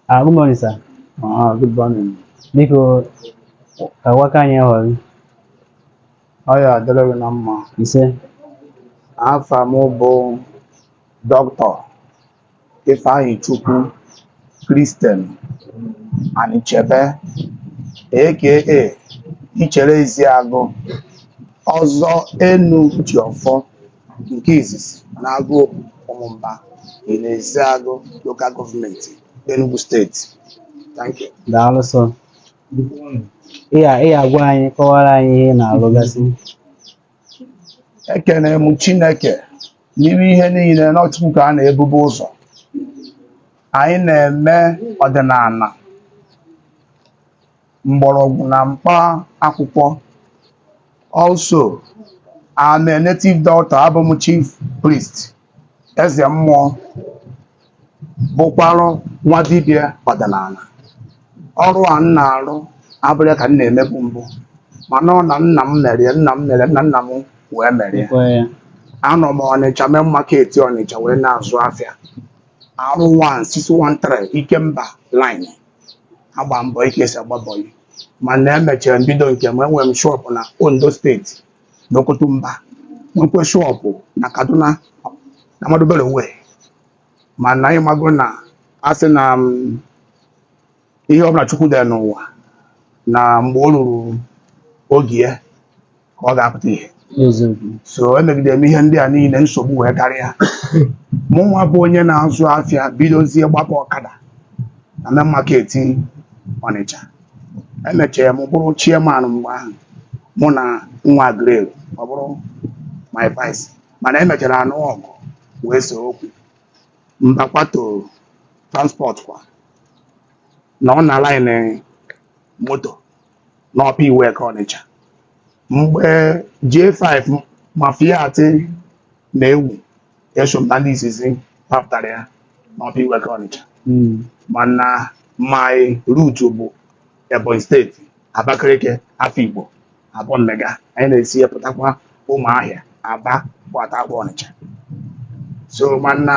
Ah, good morning, sir. Ah, good morning. Biko, ka gwa ka anyị họrọ gị. Ọ ya adịrị gị na mma. Ise. Afa m bụ Dọkịta Ifeanyichukwu Christian Anichebe aka Ichere Eziagụ Ọzọ Enujiọfọ. Nke izizi n'Agụobu Ụmụmba dị n'Ezeagụ Local Government, Enugu State. Thank you. Daalụ sọ. Ị ya- ị ya gwa anyị kọwaara anyị ihe ị na-alụgasị. Ekene m Chineke n'ime ihe niile na ọ Chukwu ka a na-ebube ụzọ. Anyị na-eme ọdịnala mgbọrọgwụ na mkpa akwụkwọ also I'm a native doctor abụ m chief priest eze mmụọ bụkwarụ nwa dibịa ọdịnala ọrụ a m na-arụ abụrọ ya ka m na-emebu mbụ mana ọ na nna m mere ya nna m mere nna nna m wee mere ya. anọ m ọnịcha main market ọnịcha wee na-azụ afịa R 1 613 ikemba line agba m bọyị ka e si agba bọyị mana emechara m bido nke m enwere m shọpụ na Ondo steeti na Oke Otunba nwekwe shọpụ na Kaduna na Ahmadu Bello Way mana ị mago na a sị na mm, ihe ọbụla Chukwu dere n'ụwa na mgbe o ruru oge ya ka ọ ga-apụta ihe so emegide m ihe ndị a niile nsogbu wee karịa mụ nwa bụ onye na-azụ afịa bidozie gbaba ọkada na main market Ọnịcha emechara m bụrụ chairman mgbe ahụ mụ na nwa grade ọ bụrụ my vice mana emechara a nụọ ọgụ wee see okwu m bakwata transport kwa na ọ na line moto n'Upper Iweka ọnịcha mgbe J5 ma Fiat na-ewu eso m na ndị izizi papụtara ya n'Upper Iweka ọnịcha mana my route bụ ebonyi steeti abakaliki afikpo Abaomege anyị na-esi ya pụtakwa ụmụahịa aba gbatakwa ọnịcha so mana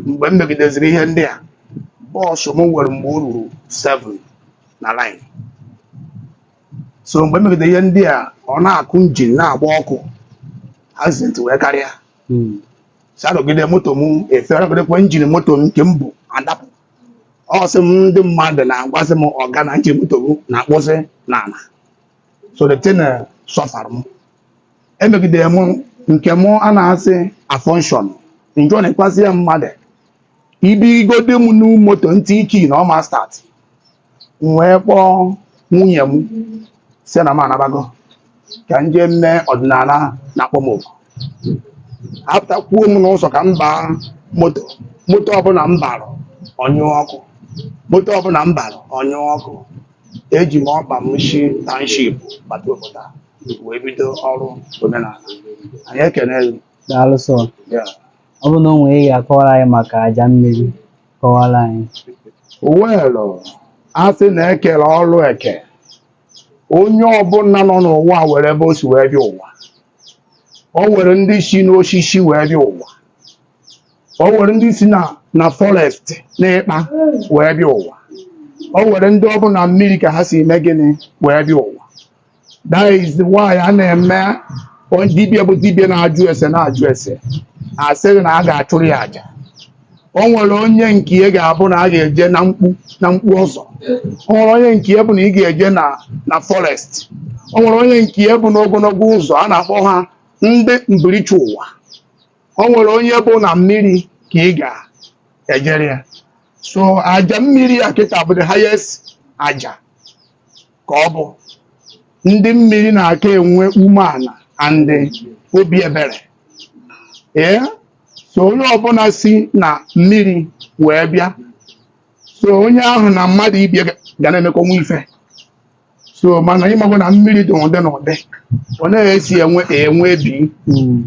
mgbe m megideziri ihe ndị a bọọsụ m nwere mgbe o ruru 7 na line so mgbe emegide ihe ndị a ọ na-akụ njin na-agba ọkụ accident wee karịa hmm. si anọgide moto m efe anọgidekwa njin moto m nke mbụ adapụ ọ sị m ndị mmadụ na-agwazi m ọga na njin moto gị na-akpụzi n'ala so the thing eh, sọfara m emegide m nke mụ a na-asị afọnshọn njọ na-ekpasị ya mmadụ ibirigode m na moto m tii key na ọ ma start m wee kpọọ nwunye m sị na m anabago ka m jee mee ọdịnala na-akpọ m oku apụtakwuo m n'ụzọ ka m baa moto moto ọbụla m bara ọ nyụọ ọkụ moto ọbụla m bara ọ nyụọ ọkụ eji m ọkpa m shi township bata obodo a wee bido ọrụ omenala anyị ekene gị Daalụ sọ. Ọ bụ na o nwere ihe ị ga-akọwara anyị maka aja mmiri kọwara anyị. Well, a sị na e kere ọrụ eke onye ọbụla nọ n'ụwa nwere ebe o si wee bịa ụwa o nwere ndị si n'osisi wee bịa ụwa o nwere ndị si na na forest n'ikpa wee bịa ụwa o nwere ndị ọ bụ na mmiri ka ha si eme gịnị wee bịa ụwa that is why a na-eme onye dibịa bụ dibịa na-ajụ ese na-ajụ ese a sịrị na a ga-achụrụ ya aja o nwere onye nke ya ga-abụ na a ga-eje na mkpu na mkpu ọzọ o nwere onye nke ya bụ na ị ga-eje na na forest o nwere onye nke ya bụ n'ogologo ụzọ a na-akpọ ha ndị mbirichi ụwa o nwere onye bụ na mmiri ka ị ga-ejere ya so aja mmiri a kịta bụ the highest aja ka ọ bụ ndị mmiri na-aka enwe umeala and obi ebere ee so onye ọbụla si na mmiri wee bịa so onye ahụ na mmadụ ibie ga- ga na-emekọnwa ife so mana ị makwa na mmiri dị ụdị na ụdị ọ na-esi enwe enwe ebe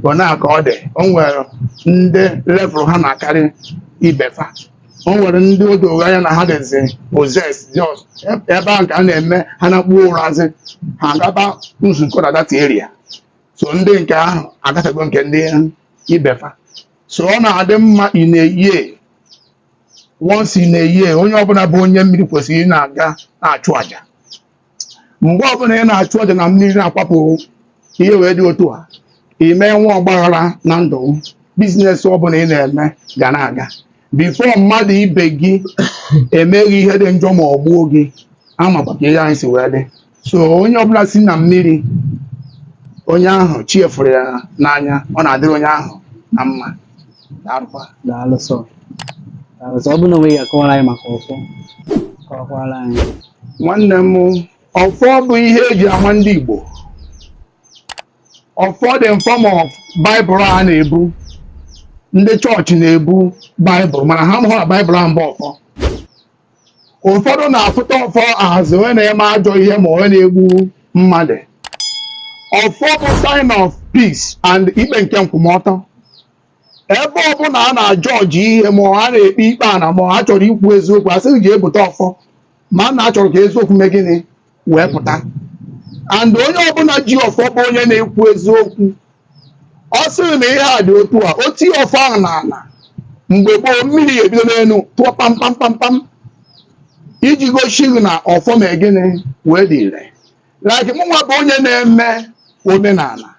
ọ na-aka ọ dị o nwere ndị level ha na-akarị ibefa o nwere ndị o doro anya na ha dịzi possessed just ebe ahụ ka a na-eme ha nakpu ụrazị ha gaba nzukọ na that area so ndị nke ahụ agafego nke ndị ibefa so ọ na-adị mma in a year once in a year onye ọbụla bụ onye mmiri kwesịrị ị na-aga na-achụ aja mgbe ọbụla ị na-achụ aja na mmiri na-akwapụ ihe wee dị otu a ị ma enwe ọgbaghara na ndụ business ọbụla ị na-eme ga na-aga before mmadụ ibe gị emee gị ihe dị njọ ma ọ gbuo gị ama m ka ihe anyị si wee dị so onye ọbụla si na mmiri onye ahụ chi eforo ya n'anya ọ na-adịrị onye ahụ na mma daalụ sọ daalụ sọ ọ bụrụ na o nwee ihe ị ga-akọwara anyị maka ọfọ kọwakwara anyị nwanne m ọfọ bụ ihe e ji ama ndị Igbo ọfọ dị in form of baịbụl a na-ebu ndị chọọchị na-ebu baịbụl mana ha mụrụ baịbụl a mba ọfọ ụfọdụ na-afụta ọfọ as onye na-eme ajọ ihe ma onye na-egbu mmadụ ọfọ bụ sign of peace and ikpe nke nkwụmọtọ ebe ọbụla a na-ajọji ihe ma a na-ekpe ikpe ana ma a chọrọ ikwu eziokwu asị gị je bute ọfọ maka na a chọrọ ka eziokwu mee gịnị wee pụta and onye ọbụla ji ọfọ bụ onye na-ekwu eziokwu ọ sị gị na ihe a dị otu a o tie ọfọ ahụ n'ala mgbe gboo mmiri ga-ebido n'elu tụọ pam iji gosi gị na ọfọ mee gịnị wee dị ire like mụnwa bụ onye na-eme omenala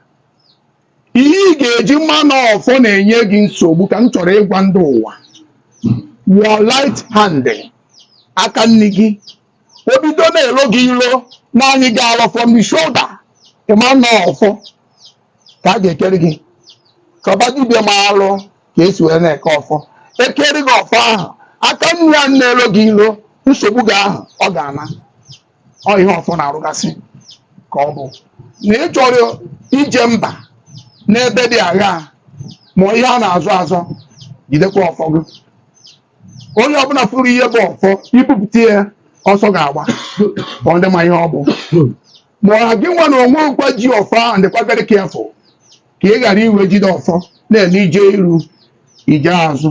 ihe ị ga-eji ma na ọfọ na-enye gị nsogbu ka m chọrọ ịgwa ndị ụwa your right hand aka nri gị o bido na-elo gị ilo na-anyị gị alọ from the shoulder ị ma na ọ ọfọ ka a ga-ekere gị ka ọ bụ dibịa maalụ ka esi wee na-eke ọfọ ekere gị ọfọ ahụ aka nri ahụ na-elo gị ilo nsogbu gị ahụ ọ ga-ana ọ ihe ọfọ na-arụgasị ka ọ bụ na ị chọrọ ije mba n'ebe dị agha ma ihe a na-azọ azọ jidekwa ọfọ gị onye ọbụla fụrụ ihe bụ ọfọ ibupụta ya ọsọ ga-agba ọ ndị ma ihe ọ bụ ma ọ gị nwa na onwe gịkwa ji ọfọ ahụ dịkwa very careful ka ị ghara iwe jide ọfọ na-eme ije iru ije azụ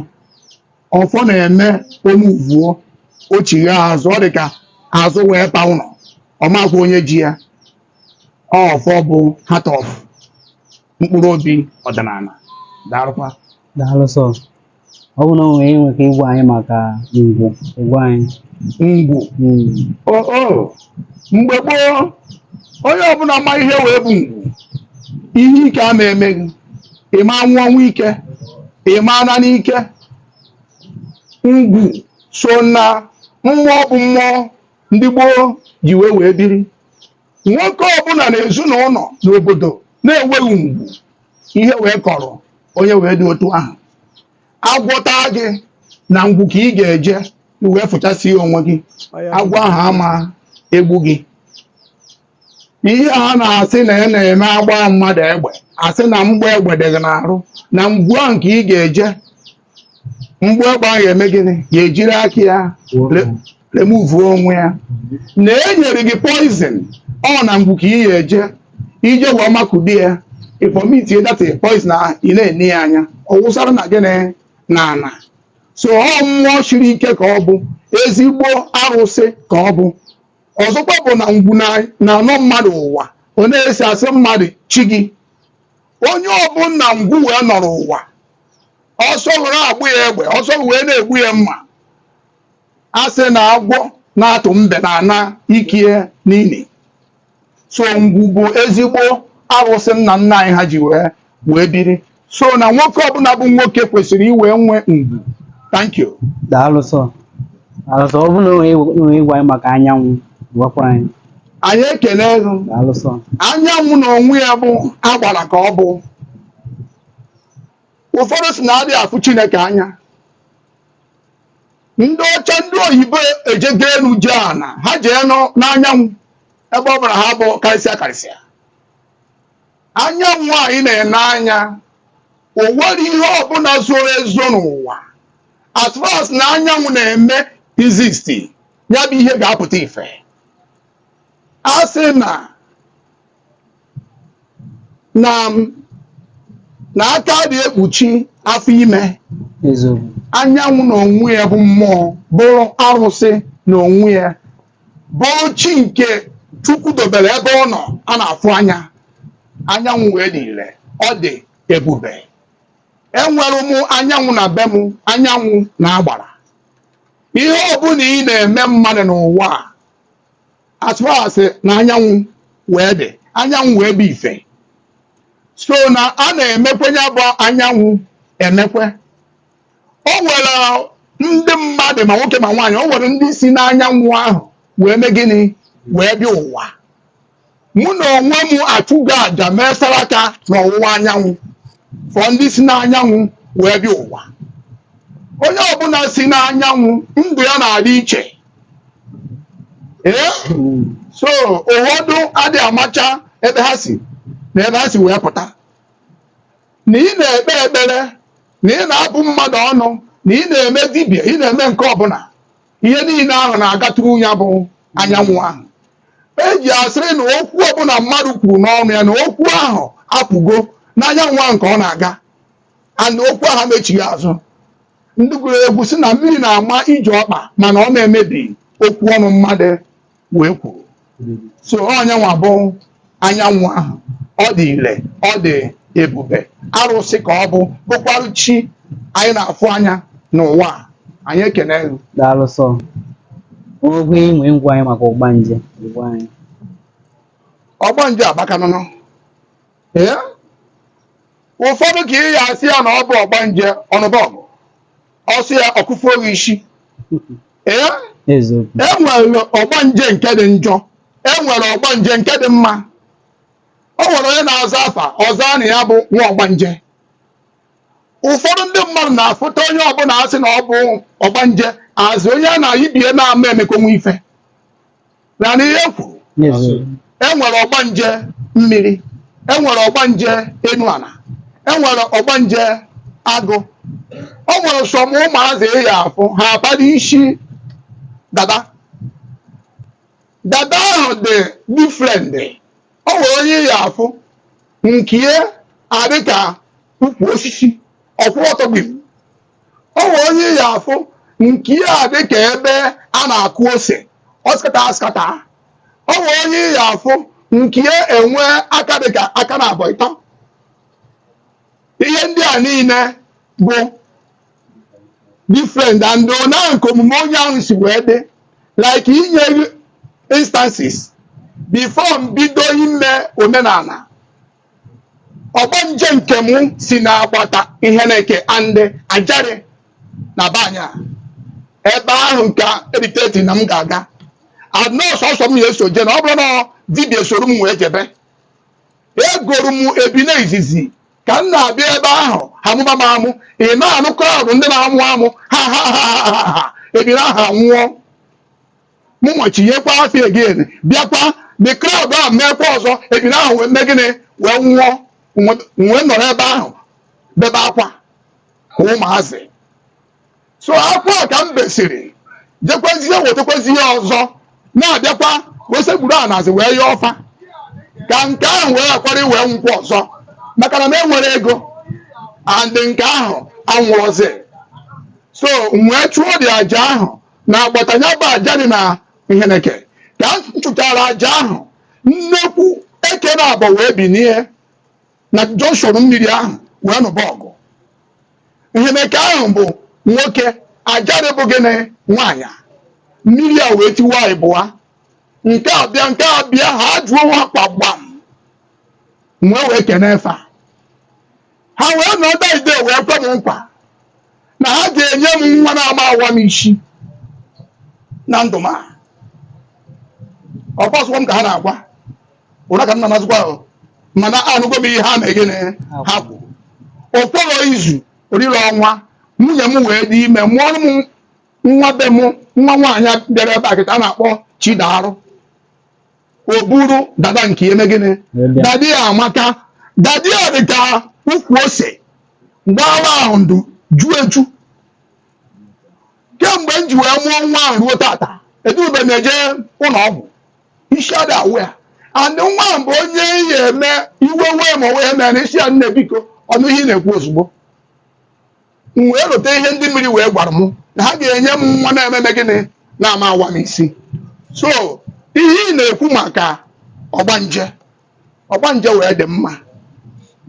ọfọ na-eme o muvuo o chigha azụ ọ dị ka azụ wee pa ụlọ ọ makwa onye ji ya ọfọ bụ heart of mkpụrụ obi ọdịnala daalụkwa daalụ sọ ọ bụrụ na i nwere nwere ike ịgwa anyị maka ngwu ịgwa anyị ngwu hmm. o mgbe gboo onye ọbụla ma ihe wee bụ ngwu ihe ike ama eme gị ịma nwụ ọnwụ ike ịma ana n'ike ngwu so na mmụọ bụ mmụọ ndị gboo ji wee wee biri nwoke ọbụla na ezinụlọ na obodo na-enweghị ngwu ihe wee kọrọ onye wee dị otu ahụ agwọ taa gị na ngwu ka ị ga-eje i wee fụchasịa onwe gị agwọ ahụ ama egbu gị ihe a na-asị na a na-eme agba mmadụ egbe asị na mgbọ egbe dị gị n'arụ na ngwu ahụ ka ị ga-eje mgbọ egbe ahụ eme gịnị ga-ejiri aka ya remuvuo onwe ya na enyere gị poison ọ na ngwu ka ị ya eje ije wee makụdi ya ị vọmitie that poison ahụ ị na-ene ya anya ọ wụsara na gịnị na ana so ọ mmụọ siri ike ka ọ bụ ezigbo arụsị ka ọ bụ ọzọkwa bụ na ngwu na-anọ mmadụ ụwa ọ na-esi asị mmadụ chi gị onye ọbụla ngwu wee nọrọ ụwa ọsọ were agbụ ya egbe ọsọ wee na-egbu ya mma a sị na agwọ na-atụ mbe na ana ikie n'ili so ngwu bụ ezigbo arụsị nna nna anyị ha ji wee wee biri so na nwoke ọbụla bụ nwoke kwesịrị iwe nwe ngwu thank you daalụ sọ daalụ sọ ọ bụrụ na o nwere ịgwa anyị maka anyanwụ gwakwa anyị anyị ekele gị Daalụ sọ. anyanwụ na onwe ya bụ agbara ka ọ bụ ụfọdụ si na adị afụ chineke anya ndị ọcha ndị oyibo ejego elu jee ana ha jee nọ- n'anyanwụ ebe ọ bụla ha bụ karịsịa karịsịa anyanwụ anyị na-ene anya o nwere ihe ọbụla zoro ezo n'ụwa as far as na anyanwụ na-eme exist ya bụ ihe ga-apụta ife a sị na na na aka adị ekpuchi afọ ime anyanwụ na onwe ya bụ mmụọ bụrụ arụsị na onwe ya bụrụ chi nke chukwu dobere ebe ọ nọ a na-afụ anya anyanwụ wee dị ire ọ dị ebube enwere m anyanwụ na be m anyanwụ na agbara ihe ọbụla ị na-eme mmadụ n'ụwa a as far as na anyanwụ wee dị anyanwụ wee bụ ife so na a na-emekwe ya bụ anyanwụ emekwe o nwere ndị mmadụ ma nwoke ma nwaanyị o nwere ndị si n'anyanwụ ahụ wee mee gịnị wee bịa ụwa mụ na onwe m achụgo aja mee saraka n'ọwụwa anyanwụ for ndị si n'anyanwụ wee bịa ụwa onye ọbụla si n'anyanwụ ndụ ya na-adị iche ee so ụfọdụ adị amacha ebe ha si na ebe ha si wee pụta na ị na-ekpe ekpere na ị na-abụ mmadụ ọnụ na ị na-eme dibịa ị na-eme nke ọbụla ihe niile ahụ na-aga through ya bụ anyanwụ ahụ eji asịrị na okwu ọbụla mmadụ kwuru n'ọnụ ya na okwu ahụ apụgo n'anyanwụ ahụ nke ọ na-aga and okwu ahụ ma echigha azụ ndị gụrụ egwu si na mmiri na-ama ije ọkpa mana ọ na-emebi okwu ọnụ mmadụ wee kwuru so onye nwa bụ anyanwụ ahụ ọ dị ire ọ dị ebube arụsị ka ọ bụ bụkwarụ chi anyị na-afụ anya n'ụwa a. anyị ekene elu daalụ sọ ogwe inwe ịgwa anyị maka ọgbanje gwa anyị ọgbanje abakanụnụ ee ụfọdụ ka ị ya asị ya na ọ bụ ọgbanje ọnụbọgụ ọ sị ya ọkụfu oge isi ee enwere ọgbanje nke dị njọ enwere ọgbanje nke dị mma o nwere onye na-aza afa ọ za na ya bụ nwa ọgbanje ụfọdụ ndị mmadụ na-afụta onye ọbụla asị na ọ bụ ọgbanje azị onye a na-ayibie na-ama emekonwe ife na na ihe kwuru enwere ọgbanje mmiri enwere ọgbanje enu ana enwere ọgbanje agụ o nwere some ụmụazị ị ya-afụ ha abara isi dada dada ahụ dị different o nwere onye ị ya-afụ nkie adịka ukwu osisi ọ kwụrụ ọtọ gbim o nwe onye ị ga-afụ nke ya dị ka ebe a na-akụ ose ọ scatter a scatter o nwe onye ị ga-afụ nke ya enwe aka dị ka aka na abọ ịtọ ihe ndị a niile bụ different and na nke omume onye ahụ si wee dị like inye instances before m bido ime omenala ọgbanje nke mụ si na agbata Iheneke and Ajari na banya ebe ahụ ka eriteti na m ga-aga and ọ sọsọ m ya eso je na ọ bụrọ na dibịa soro m wee jebe egoro m ebine izizi ka m na-abịa ebe ahụ ha mụba m amụ ị na-anụ crowd ndị na-amụ amụ ha ha ha ha ha ebine ahụ anwụọ mụnwa chinyekwa afọ again bịakwa the crowd ahụ meekwa ọzọ ebine ahụ wee mee gịnị wee nwụọ wee nọrọ ebe ahụ bebe akwa ka ụmụazị so akwa ka m besịrị jekwezie wetakwezie ọzọ na-abịakwa wee sekpuru ana zi wee yọọ fa ka nke ahụ wee ghakwara wee nwụkwa ọzọ maka na m enwerọ ego and nke ahụ anwụrọzi so m wee chụọ the aja ahụ na agbata ya bụ Ajari na Nheneke ka m chụchara aja ahụ nnekwu eke na abọ wee binie na junction mmiri ahụ wee nụba ọgụ Nheneke ahụ bụ nwoke Ajari bụ gịnị nwaanyị mmiri a wee tiwa ịbụa nke a bịa nke a bịa ha jụọ nwa kpagbam m wee kenee fa ha wee nọ that day wee kwe m nkwa na ha ga-enye m nwa na-ama awa m isi na ndụ m a ọ kpọsụkwa m ka ha na-agwa ụra ka m na-anazụkwa ahụ mana anụgo m ihe ha mee gịnị ha kwuru o kwere izu orire ọnwa nwunye m wee dị ime mụọrọ m nwa be m nwa nwaanyị bịara ebe a kịta a na-akpọ Chidarụ o buru dada nke eme gịnị dada ya amaka dada ya dị ka ukwu ose gbara ahụ ndụ ju eju kemgbe m ji wee mụọ nwa ahụ ruo tata edube m eje ụlọ ọgwụ isi ada awa ya and nwa ahụ bụ onye ihe eme iwe wee ma ọ wee mee na isi ya nne biko ọ nụ ihe ị na-ekwu ozugbo m wee rote ihe ndị mmiri wee gwara m na ha ga-enye m nwa na-ememe gịnị na-ama awa m isi so ihe ị na-ekwu maka ọgbanje ọgbanje wee dị mma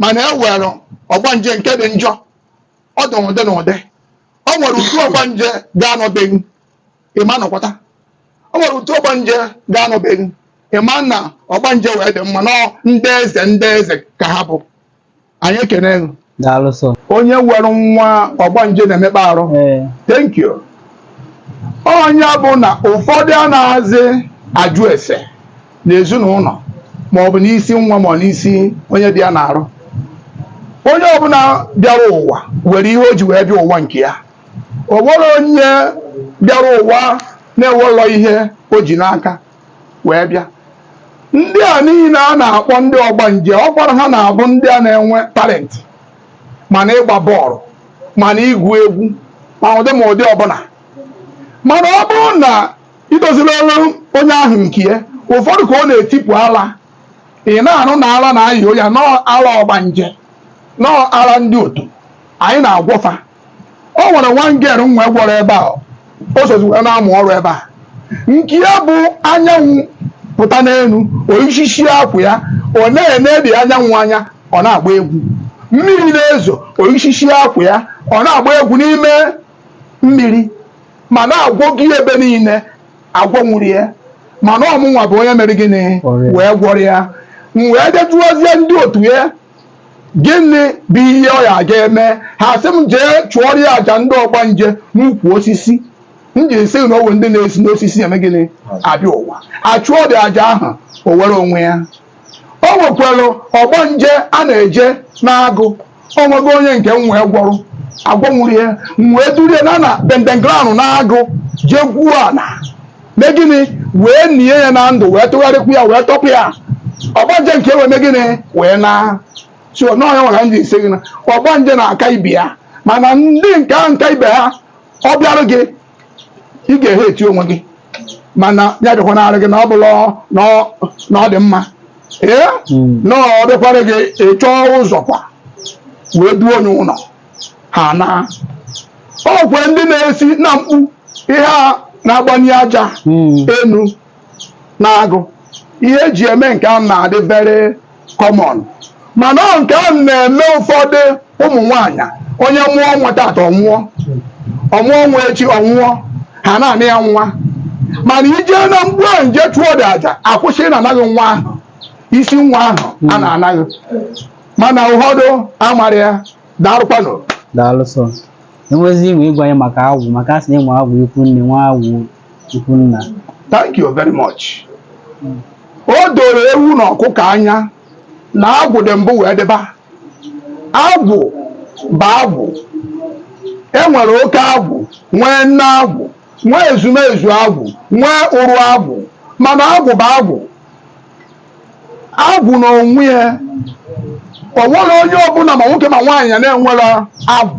mana e were ọgbanje nke dị njọ ọ dị n'ụdị n'ụdị o nwere otu ọgbanje ga-anọ be gị ị ma nọkwata o nwere otu ọgbanje ga-anọ be gị ị ma na ọgbanje wee dị mma na ndị eze ndị eze ka ha bụ anyị ekene gị daalụ sọ onye were nwa ọgbanje na-emekpa arụ ee thank you ọ nya bụ na ụfọdụ anazị ajụ ese n'ezinụlọ ma ọ bụ n'isi nwa ma ọ n'isi onye dị ya n'arụ onye ọbụla bịara ụwa were ihe o ji wee bịa ụwa nke ya o nwerọ onye bịara ụwa na-enwerọ ihe o ji n'aka wee bịa ndị a niile a na-akpọ ndị ọgbanje ọ gwara ha na-abụ ndị a na-enwe talent ma na ịgba bọọlụ ma na ịgụ egwu ma ụdị ma ụdị ọbụla mana ọ bụrụ na i dozirọra onye ahụ nke ya ụfọdụ ka ọ na-etipụ ala ị na-anụ na ala na-ayị ya na ọ ala ọgbanje na ọ ala ndị otu anyị na-agwọ fa o nwere nwa girl m wee gwọrọ ebe a o sozi wee na-amụ ọrụ ebe a nke ya bụ anyanwụ pụta n'elu o yisisịa akwa ya ọ na-enedị anyanwụ anya ọ na-agba egwu mmiri na-ezo o yisisịa akwa ya ọ na-agba egwu n'ime mmiri mana a gwọgo ya ebe niile agwọnwurọ ya mana ọ mụnwa bụ onye mere gịnị wee gwọrọ ya m wee jee jụọzie ndị otu ya gịnị bụ ihe ọ ya ga-eme ha sị m jee chụọrọ ya aja ndị ọgbanje n'ukwu osisi m ji asị gị na o nwere ndị na-esi n'osisi eme gịnị abịa ụwa a chụọdị aja ahụ o were onwe ya o nwekwara ọgbanje a na-eje n'agụ o nwego onye nke m wee gwọrọ agwọnwurọ ya m wee duru ya naa na burial ground n'agụ jee gwuo ala mee gịnị wee nie ya na ndụ wee tụgharịkwu ya wee tọpụ ya ọgbanje nke wee mee gịnị wee naa so na ọ nyanwa ka m ji asị gị na ọgbanje na-aka ibe ya mana ndị nke ahụ nka ibe ha ọ bịarụ gị ị ga-ehate onwe gị mana ya bịakwa n'arụ gị na ọ bụla na ọ- na ọ dị mma ee na ọ bịakwara gị ị chọọ ụzọ kwa wee duo onye ụlọ ha na o nwekwe ndị na-esi na mkpu ihe a na-agbanye aja hmm. enu na-agụ ihe eji eme nke ahụ na-adị very common mana nke ahụ na-eme ụfọdụ ụmụ nwanyị onye mụọ nwa tata ọ nwụọ ọ mụọ nwa echi ọ nwụọ ha na-ana ya nwa mana i jee na mkpu ahụ jee chụọ dị aja akwụsị ịna-ana gị nwa ahụ isi nwa ahụ a na-ana gị mana ụfọdụ amara ya daalụkwanụ daalụ sọ enwezi inwe ịgwa anyị maka agwụ maka a sị na e nwe agwụ ikwu nne nwee agwụ ikwu nna thank you very much o doro ewu na ọkụkọ anya na agwụ dị mbụ wee dịba agwụ bụ agwụ e nwere oke agwụ nwee nne agwụ nwee ezumezu agwụ nwee ụrụ agwụ mana agwụ bụ agwụ agwụ na onwe ya o nwerọ onye ọbụla ma nwoke ma nwaanyị na-enwerọ agwụ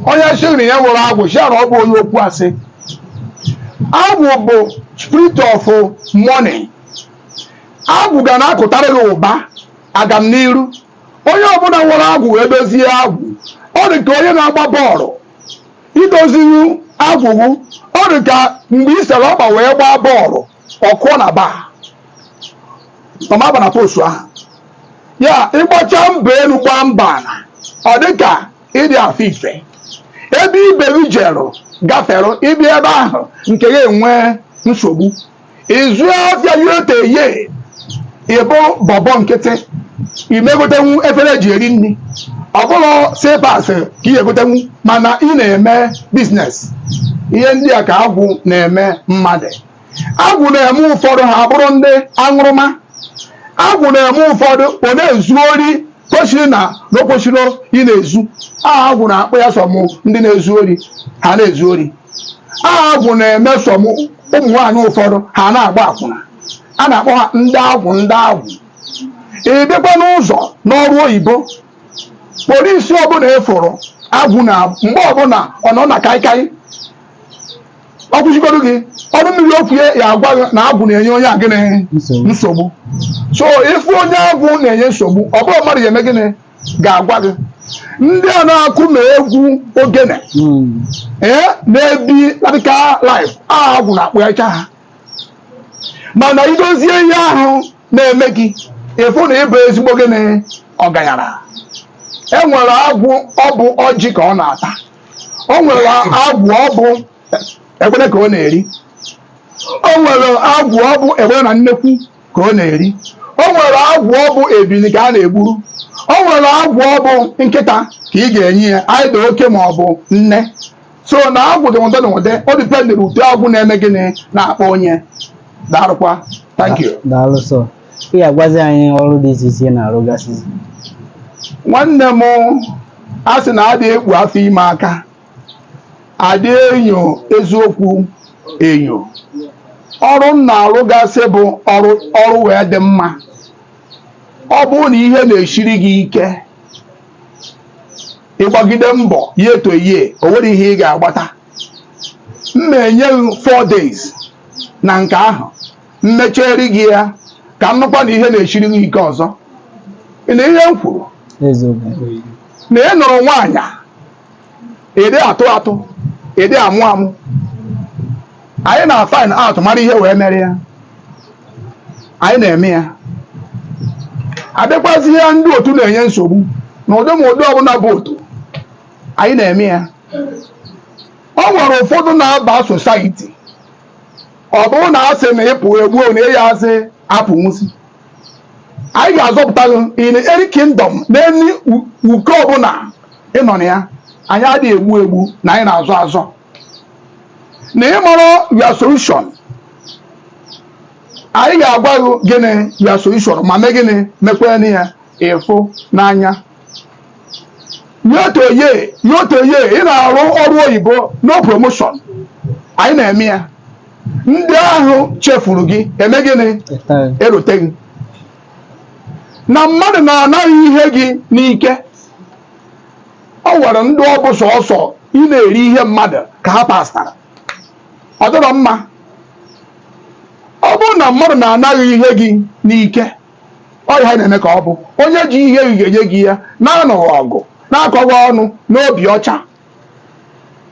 onye sịrị ya enwerọ agwụ sị ya na ọ bụ onye okwu asị agwụ bụ spirit of money agwụ ga na-akụtara gị ụba agam n'iru onye ọbụla nwere agwụ wee dozie agwụ ọ dị ka onye na-agba bọọlụ i dozihu agwụ gị ọ dị ka mgbe i sere ọkpa wee gbaa bọọlụ ọ kụọ na bar ọ ma aba na post ahụ ya ị gbachaa mbọ elu gbaa mbọ ala ọ dị ka ị dị afụ ife ebe ibe gị jerụ gafere ị bịa ebe ahụ nke gị enwee nsogbu ị zụọ afịa year to year ị bụ bobo nkịtị ị ma egotenwu efere e ji eri nri ọ bụrọ slippers ka ị ya-egotenwu mana ị na-eme business ihe ndị a ka agwụ na-eme mmadụ agwụ na-eme ụfọdụ ha abụrụ ndị aṅụrụma agwụ na-eme ụfọdụ ọ na-ezu ori kwesịrị na na o kwesịrọ ịna-ezu aha agwụ na-akpa ya some ndị na-ezu ori ha na-ezu ori aha agwụ na-eme some ụmụ nwaanyị ụfọdụ ha na-agba akwụna a na-akpọ ha ndị agwụ ndị agwụ ị bịakwa n'ụzọ n'ọrụ oyibo police ọbụla eforo agwụ na mgbe ọbụla ọ nọ na kaikai ọ kwụsịgodo gị ọnụ mmiri okwu ya ya-agwa gị na agwụ na-enye onye a gịnị nsogbu so ị fụ onye agwụ na-enye nsogbu ọ bụrọ mmadụ ya-eme gịnị ga-agwa gị ndị a na-akụ ma egwu ogene ee na-ebi radical life agwụ na-akpacha ha mana idozie ihe ahụ na-eme gị ịfụ na ịbụ ezigbo gịnị ọgaranya e nwere agwụ ọ bụ ọjị ka ọ na-ata o nwere agwụ ọ bụ egbere ka ọ na-eri o nwere agwụ ọ bụ egbere na nnekwu ka ọ na-eri o nwere agwụ ọ bụ ebili ka a na-egburu o nwere agwụ ọ bụ nkịta ka ị ga-enye ya either oke ma ọ bụ nne so na agwụ dị ụdị na ụdị ọ dịpendịrị ụdị agwụ na-eme gịnị na-akpa onye daarụkwa thank you daalụ sir ị ga-agwazi anyị ọrụ dị iche iche ị na-arụgasị nwanne m a sị na adị ekpu afọ ime aka adị enyo eziokwu enyo ọrụ m na-arụgasị bụ ọrụ wee dị mma ọ bụrụ na ihe na-esiri gị ike ịgbagide mbọ ya eto ihe o nwere ihe ị ga-agbata m na-enye gị 4 days na nke ahụ m mechari gị ya ka m nụkwa na ihe na-esiri gị ike ọzọ ị na ihe m kwuru na ị nụrụ nwaanyị ịdị atụ atụ ịdị amụ amụ anyị na-find out mara ihe wee mere ya anyị na-eme ya adịkwazi ihe ndị otu na-enye nsogbu na ụdị ma ụdị ọbụla bụ otu anyị na-eme ya o nwere ụfọdụ na-aba society ọ bụrụ na asị na ịpụ egbuo na ịya asị apụ nwụsị anyị ga-azọpụta gị in any kingdom in any uke ọbụla ịnọ na ya anyị adịghị egbu egbu na anyị na-azọ azọ na ị marọ your solution anyị ga-agwa gị gịnị your solution ma mee gịnị mekwere ya ịfụ n'anya yotoye yotoye ị na-arụ ọrụ oyibo no promotion anyị na-eme ya ndị ahụ chefuru gị eme gịnị elote gị na mmadụ na-ana gị ihe gị n'ike o nwere ndị ọ bụ sọsọ ị na-eri ihe mmadụ ka ha pastara ọ dịrọ mma ọ bụrụ na mmadụ na-ana gị ihe gị n'ike ọ ihe anyị na-eme ka ọ bụ onye ji ihe gị ga-enye gị ya na-anụghị ọgụ na-akọghị ọnụ n'obi ọcha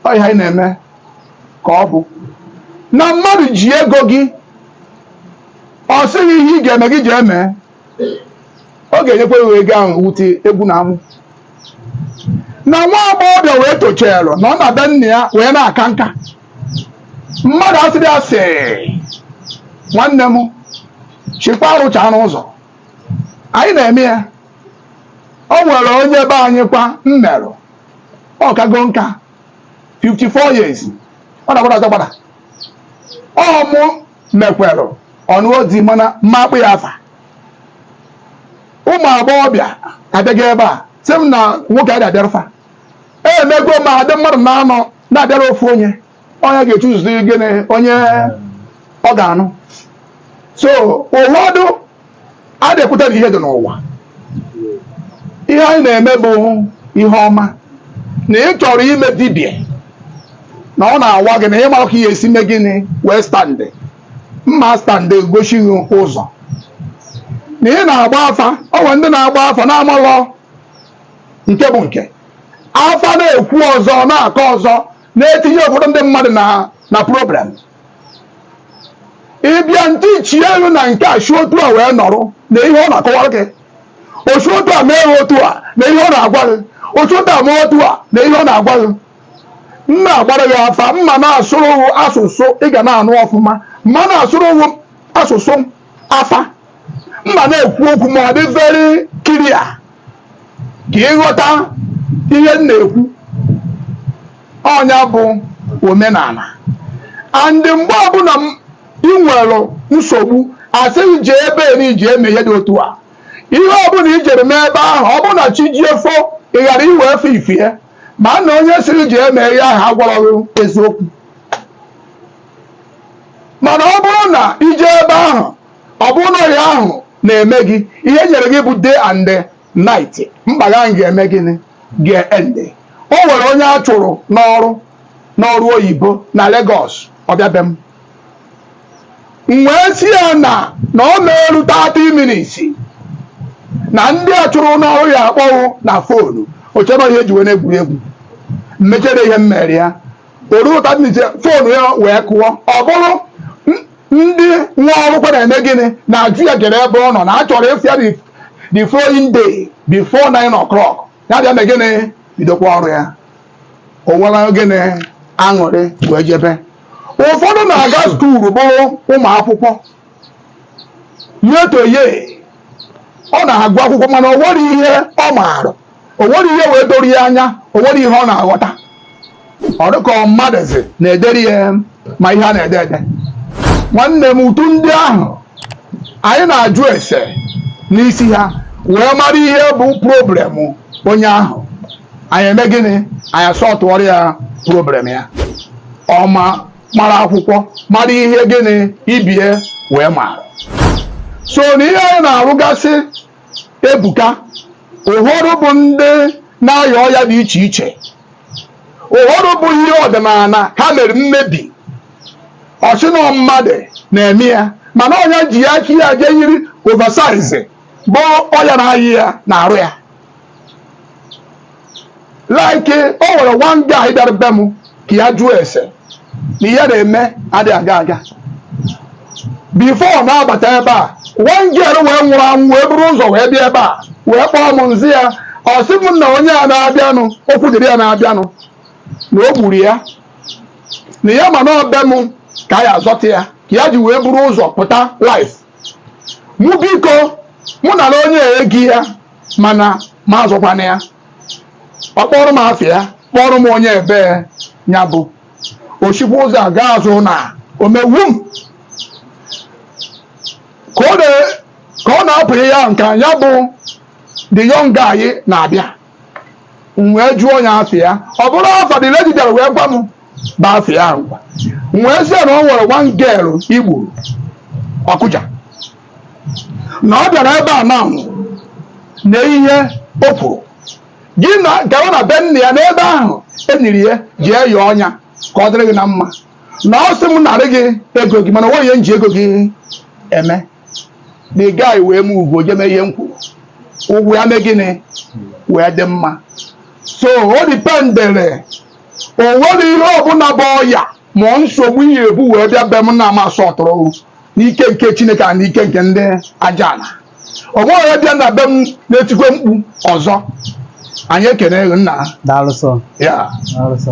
ọ ihe anyị na-eme ka ọ bụ na mmadụ ji ego gị ọ sị gị ihe ị ga-eme gị jee mee ọ ga-enyekwa ya ego ahụ wute egwu na amụ na nwa agbọghọbịa wee tochara na ọ nọ na be nna ya wee na-aka nka mmadụ asịrị asị nwanne m chikwa arụcha n'ụzọ anyị na-eme ya o nwere onye be anyị kwa m merụ ọ kago nka 54 years ọ na-agbada agbada ọ mụ mekwere ọ nụọ di mana m ma akpọ ya afa ụmụ agbọghọbịa abịago ebe a sị m na nwoke ada abịarụ fa emego m a dị mmadụ anọ na-abịara ofu onye onye ga-echoosezi gịnị onye ọ ga-anụ so ụfọdụ adị ekweta na ihe dị n'ụwa ihe anyị na-eme bụ ihe ọma na ị chọrọ ime dibịa na ọ na-awa gị na ị marọ ka ị ya-esi mee gịnị wee stand m ma stand gosi gị ụzọ na ị na-agba afa o nwere ndị na-agba afa na-amalọ nke bụ nke afa na-ekwu ọzọ na-akọ ọzọ na-etinye ụfọdụ ndị mmadụ na na problem ị bịa ntị chie elu na nke a si otu a wee nọrọ na ihe ọ na-akọwara gị o si otu a mee otu a na ihe ọ na-agwa gị o si otu a mee otu a na ihe ọ na-agwa gị m na-agbara gị afa m ma na-asụrụ asụsụ ị ga na-anụ ọfụma m ma na-asụrụ asụsụ afa m ma na-ekwu okwu ma ọ dị very clear ka ị ghọta ihe m na-ekwu ọ nya bụ omenala and mgbe ọbụla ị nwere nsogbu a sị gị je ebe ni ị je mee ihe dị otu a ihe ọbụla i jere mee ebe ahụ ọ bụrụ na chi jie fo ị ghara inwe efe ifie ma na onye sịrị gị je mee ihe ahụ agwarọ gị eziokwu mana ọ bụrụ na i je ebe ahụ ọ bụrụ na ọrịa ahụ na-eme gị ihe e nyere gị bụ day and night mkpa gị ahụ ga-eme gịnị ga-end o nwere onye a chụrụ n'ọrụ n'ọrụ oyibo na Lagos ọ bịa be m m wee sị ya na na ọ na-eru 30 minutes na ndị a chụrụ n'ọrụ ya-akpọ ghụ na fonu o che na ihe e ji wee na-egwuregwu m mechara ihe m mere ya o ruo 30 minutes fonu ya wee kụọ ọ bụrụ ndị nwe ọrụ kwa na-eme gịnị na-ajụ ya kedụ ebe ọ nọ na a chọrọ ịfụ ya the following day before 9 o'clock ya bịa mee gịnị bidokwa ọrụ ya o nwere gịnị aṅụrị wee jebe ụfọdụ na-aga skuulu bụrụ ụmụ akwụkwọ yet onye ahụ na-agụ akwụkwọ mana o nwerọ ihe ọ maara o nwerọ ihe wee doro ya anya o nwerọ ihe ọ na-aghọta ọ dịka mmadụzi na-edere ya ma ihe a na-ede ede nwanne m ụdị ndị ahụ anyị na-ajụ ese n'isi ha wee mara ihe bụ problem onye ahụ anyị eme gịnị anyị asọtụọrọ ya problem ya ọ ma mara akwụkwọ mara ihe gịnị ibe ya wee mara so na ihe anyị na-arụgasị ebuka ụfọdụ bụ ndị na-aya ọya dị iche iche ụfọdụ bụ ihe ọdịnala ha mere mmebi o chee na mmadụ na-eme ya mana ọ nya ji aka ya jee yiri oversize bụ ọya na-aya ya na-arụ ya like o nwere one guy bịara be m ka ya jụọ ese na ihe ya na-eme adịghị aga aga before ọ na-abata ebe a one girl wee nwụrụ anwụ wee buru ụzọ wee bịa ebe a wee kpọọ m m zaa ya ọ sị m na onye a na-abịanụ okwu dịrị ya na-abịanụ na o gburu ya na ya ma na ọ be m ka a ya-azọta ya ka ya ji wee buru ụzọ pụta life mụ biko mụ nara onye a ego ya mana mụ azọkwana ya ọ kpọrọ m afa ya kpọrọ m onye ebee ya bụ o sikwa ụzọ a gaa azụ na omewu m ka ọ na- ka ọ na-apụ ihe ahụ nke ya bụ the young guy na-abịa m wee jụọ ya afa ya ọ bụrụ afa the lady bịara wee gwa m bụ afa ya ngwa m wee sị ya na o nwere one girl i gburu Ọkịja na ọ bịara ebe a na na ihe o kwuru gị na gawa na be nna ya n'ebe ahụ e niri ya jee yọọ nya ka ọ dịrị gị na mma na ọ sị m nara gị ego gị mana o nweghị ihe m ji ego gị eme the guy wee m ugwu jee mee ihe m kwuru ụwa ya mee gịnị wee dị mma so o dipendere o nwerọ ihe ọbụla bụ ọya ma ọ nsogbu ihe e bu wee bịa be m na a ma sọtụrụ n'ike nke chineke na n'ike nke ndị aja ala o nweghị onye bịa na be m na-etikwa mkpu ọzọ anyị ekene gị nna Daalụ sọ. ya Daalụ sọ.